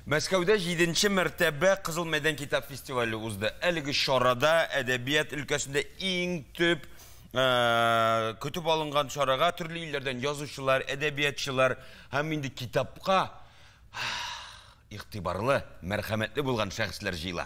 Мәскәүдә җиденче мәртәбә Кызыл мәйдан китап фестивале узды. Әлеге чарада әдәбият өлкәсендә иң төп көтеп алынган чарага төрле илләрдән язучылар, әдәбиятчылар һәм инде китапка игътибарлы, мәрхәмәтле булган шәхесләр җыела.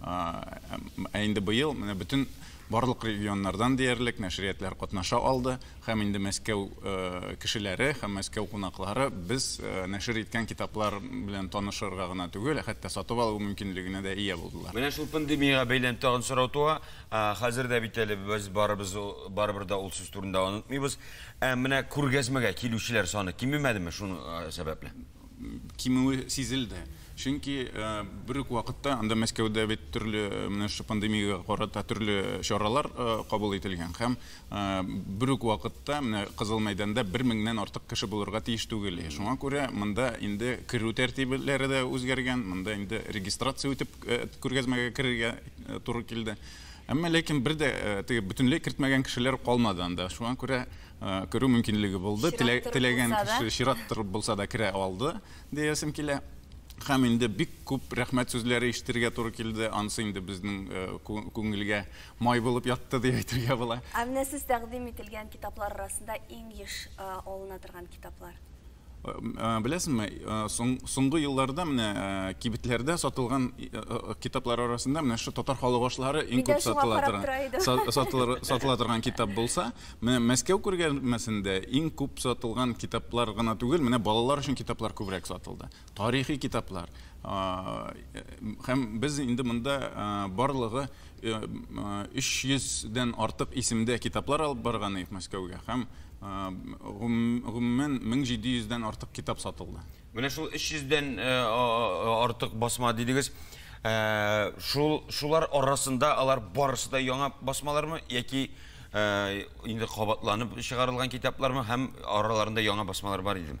Ә инде быел менә бөтен барлык регионнардан диярлек нәшриятләр катнаша алды һәм инде Мәскәү кешеләре һәм Мәскәү кунаклары без нәшер иткән китаплар белән танышырга гына түгел, ә хәтта сатып алу мөмкинлегенә дә ия булдылар. Менә шул пандемиягә бәйләнеп тагын сорау туа. Хәзер дә бит әле без барыбыз барыбер дә ул сүз турында онытмыйбыз. Ә менә күргәзмәгә килүчеләр саны кимемәдеме шуның сәбәпле? кимүе сизелде. Чөнки бер үк вакытта анда Мәскәүдә бит төрле менә шушы пандемиягә карата төрле чаралар кабул ителгән һәм бер үк вакытта менә Кызыл мәйданда бер меңнән артык кеше булырга тиеш түгел. Шуңа күрә монда инде керү тәртибләре дә үзгәргән, монда инде регистрация үтеп күргәзмәгә керергә туры килде. Әмма ләкин бер дә теге бөтенләй кертмәгән кешеләр калмады анда. Шуңа күрә э, керү мөмкинлеге булды. Теләгән кеше чират торып булса да керә алды, диясем килә. Һәм инде бик күп рәхмәт сүзләре ишетергә туры килде. Ансы инде безнең э, күңелгә май булып ятты дип әйтергә була. Ә менә сез тәкъдим ителгән китаплар арасында иң еш э, алына торган китаплар? Беләсеңме, соңгы елларда менә кибетләрдә сатылган китаплар арасында менә шушы татар халык ашлары иң күп сатыла торган, сатыла торган китап булса, менә Мәскәү күргәзмәсендә иң күп сатылган китаплар гына түгел, менә балалар өчен китаплар күбрәк сатылды. Тарихи китаплар. Һәм без инде монда барлыгы 300 дән артык исемдә китаплар алып барган идек Мәскәүгә һәм гомумән 1700 дән артык китап сатылды. Менә шул 300 дән артык басма дидегез. Шул шулар арасында алар барысы да яңа басмалармы яки инде кабатланып чыгарылган китаплармы һәм араларында яңа басмалар бар идеме?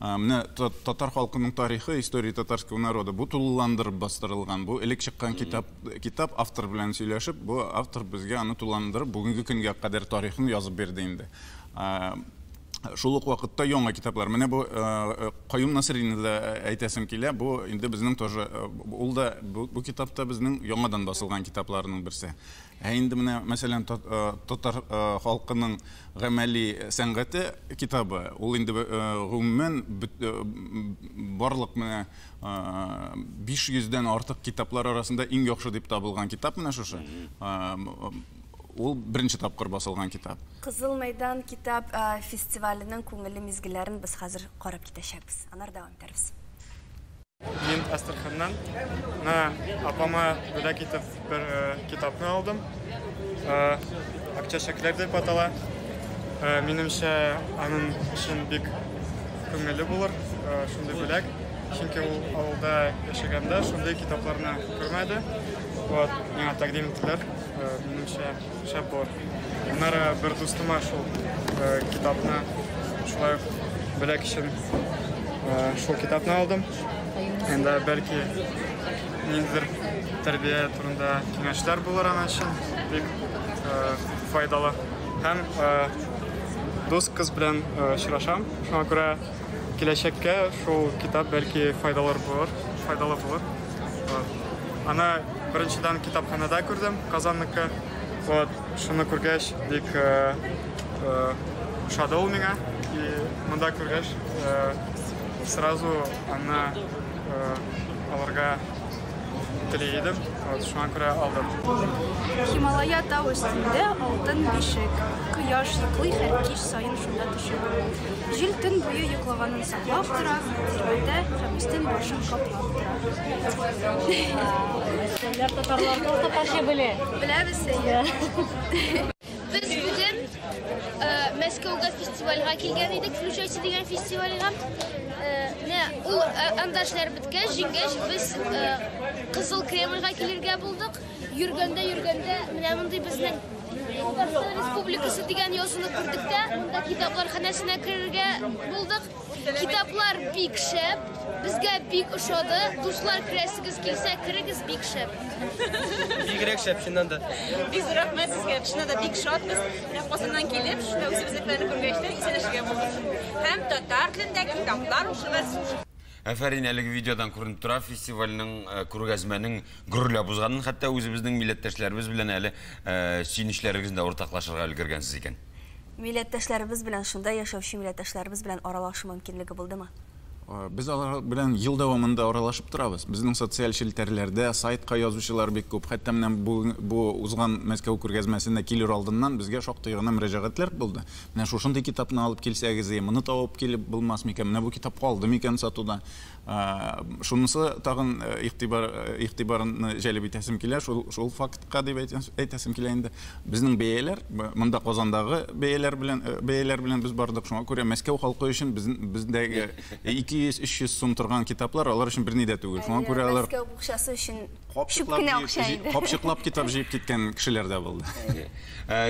Менә татар халкының тарихы, история татарского народа, бу тулыландырып бастырылган. Бу элек чыккан китап, китап автор белән сөйләшеп, бу автор безгә аны тулыландырып, бүгенге көнгә кадәр тарихын язып бирде инде. Шул ук вакытта яңа китаплар. Менә бу Каюм Насыйрине дә әйтәсем килә. Бу инде безнең тоже, ул да бу китап та безнең яңадан басылган китапларның берсе. Ә инде менә, мәсәлән, татар халкының гамәли сәнгате китабы, ул инде, гомумән, барлык менә 500 дән артык китаплар арасында иң яхшы дип табылган китап менә шушы. Ул беренче тапкыр басылган китап. Кызыл мәйдан китап фестиваленең күңелле мизгелләрен без хәзер карап китәчәкбез. Аннары дәвам итәрбез. Мин Астраханнан мына апама бүләк итеп бер э, китапны алдым. Э, Акча чәкләр дип атала. Э, минемчә, аның өчен бик күңелле булыр э, шундый бүләк. Чөнки ул авылда яшәгәндә шундый китапларны күрмәде. Вот, миңа тәкъдим иттеләр. Э, минемчә, Шәп булыр. Аннары бер дустыма шул э, китапны шулай ук бүләк өчен э, шул китапны алдым. Енді бәлки ниндидер тәрбия турында киңәшләр булыр ана өчен бик э, файдалы. Һәм дус кыз белән очрашам. Шуңа күрә Киләчәккә шул китап бәлки файдалыр булыр, файдалы булыр. Вот. Аны беренчедән китапханәдә күрдем, Казанныкы. Вот, шуны күргәч, бик ошады ул миңа. И монда күргәч, сразу аны алырга Тели идем, вот, шуңа күрә алдым. Хималая тау өстендә алтын бишек. Кояш йоклый һәр кич саен шунда төшеп. Җил төн буе йоклаганын саклап тора, тирәндә һәм өстен башын каплап тора. Сәлләр татарларда татарча белә. Беләбез сәйе. Без бүген э, Мәскәүгә фестивальгә килгән идек, Включайся дигән фестивальгә. Э, менә ул э, анда эшләр беткәч, җиңгәч, без Кызыл Кремльгә килергә булдык. Йөргәндә, йөргәндә, менә мондый безнең Татарстан Республикасы дигән язуны күрдек тә, монда китаплар ханәсенә керергә булдык. Китаплар бик шәп, безгә бик ошады. Дуслар керәсегез килсә, керегез бик шәп. Бигрәк шәп чыннан да. Без рәхмәт сезгә. Чыннан да бик шатбыз. Менә Казаннан килеп, шунда үзебезне белән күргәч тә исәнешергә булдык. Һәм татар телендә китаплар укыгыз. Әфәрин, әлеге видеодан күренеп тора, фестивальнең, э, күргәзмәнең гөрләп узганын, хәтта үзебезнең милләттәшләребез белән әле э, сөенечләрегезне дә уртаклашырга өлгергәнсез икән. Милләттәшләребез белән, шунда яшәүче милләттәшләребез белән аралашу мөмкинлеге булдымы? Без алар белән ел дәвамында аралашып торабыз. Безнең социаль челтәрләрдә, сайтка язучылар бик күп. Хәтта менә бу узган Мәскәү күргәзмәсенә килер алдыннан безгә шактый гына мөрәҗәгатьләр булды. Менә шушындый китапны алып килсәгез, әйе, моны табып килеп булмас микән, менә бу китап калды микән сатуда? Шунысы тагын игътибарны җәлеп итәсем килә, шул фактка дип әйтәсем килә инде. Безнең бәяләр, монда Казандагы бәяләр белән без бардык. Шуңа күрә Мәскәү халкы өчен бездәге 200-300 сум торган китаплар алар өчен берни дә түгел. Шуңа күрә алар. Мәскәү букчасы өчен чүп кенә акча инде. Капчыклап китап җыеп киткән кешеләр дә булды.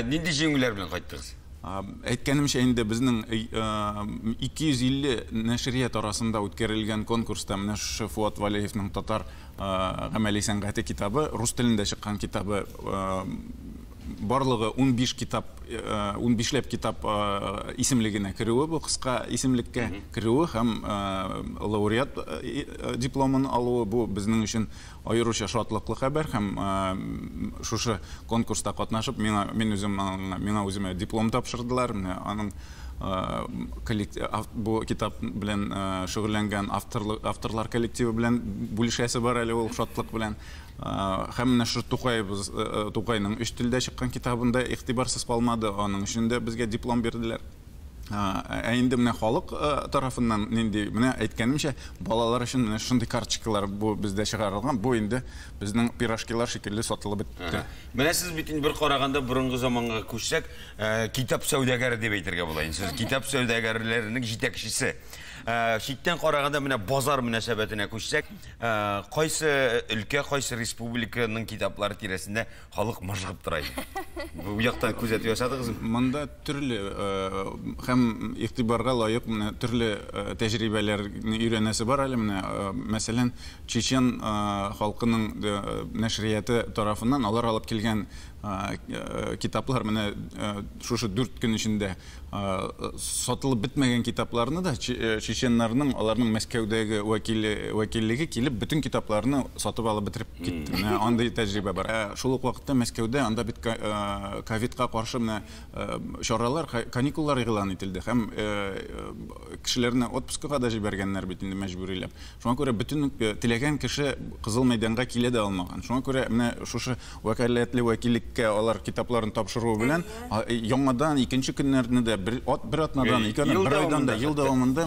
Нинди җиңүләр белән кайттыгыз? Әйткәнемчә инде, безнең 250 нәшрият арасында үткәрелгән конкурста менә шушы Фуат Валеевның Татар гамәли сәнгате китабы, рус телендә чыккан китабы, барлыгы унбиш китап, унбишләп китап исемлегенә керүе, бу кыска исемлеккә керүе һәм лауреат дипломын алуы, бу безнең өчен Аеруча шатлыклы хәбәр һәм шушы конкурста катнашып миңа мин үзем миңа үземә диплом тапшырдылар. Менә аның бу китап белән шөгыльләнгән авторлар авторлар коллективы белән бүлешәсе бар әле ул шатлык белән. Һәм менә шушы Тукаебыз Тукайның өч телдә чыккан китабында игътибарсыз калмады, аның өчен дә безгә диплом бирделәр. Ә инде менә халык тарафыннан нинди, менә әйткәнемчә, балалар өчен менә шундый карточкалар бу бездә чыгарылган. Бу инде безнең пирожкилар шикелле сатылып бетте. Менә сез бит инде бер караганда борынгы заманга күчсәк, китап сәүдәгәре дип әйтергә була инде. Сез китап сәүдәгәрләренең җитәкчесе. Читтән караганда менә базар мөнәсәбәтенә күчсәк, кайсы өлкә, кайсы республиканың китаплары тирәсендә Халык мыжгып тора иде. Бу якта күзәтү ясадыгыз? Монда төрле һәм игътибарга лаек менә төрле тәҗрибәләрне өйрәнәсе бар әле менә. Мәсәлән, чечен халкының нәшрияты тарафыннан алар алып килгән китаплар менә шушы дүрт көн эчендә Сатылып бетмәгән китапларны да чеченнарның, аларның Мәскәүдәге вәкиллеге килеп, бөтен китапларны сатып алып бетереп китте. Менә андый тәҗрибә бар. Ә шул ук вакытта Мәскәүдә анда бит ковидка каршы менә чаралар, каникуллар игълан ителде һәм кешеләрне отпускага да җибәргәннәр бит инде мәҗбүриләп. Шуңа күрә бөтен теләгән кеше Кызыл мәйданга килә дә алмаган. Шуңа күрә менә шушы Вәкаләтле вәкиллеккә алар китапларын тапшыруы белән, яңадан икенче көннәрне дә бер атнадан, ике атнадан, бер айдан да, ел дәвамында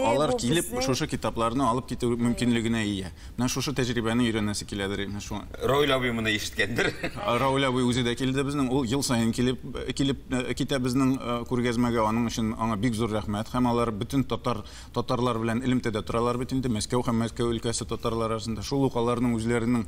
алар килеп, шушы китапларны алып китү мөмкинлегенә ия. Менә шушы тәҗрибәне өйрәнәсе киләдер инде шуңа. Равил абый моны ишеткәндер. Равил абый үзе дә килде безнең. Ул ел саен килеп килеп китә безнең күргәзмәгә. Аның өчен аңа бик зур рәхмәт. Һәм алар бөтен татар татарлар белән элемтәдә торалар бит инде. Мәскәү һәм Мәскәү өлкәсе татарлары арасында. Шул ук аларның үзләренең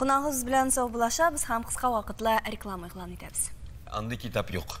Кунагыбыз белән саубуллашабыз һәм кыска вакытлы реклама игълан итәбез. Андый китап юк.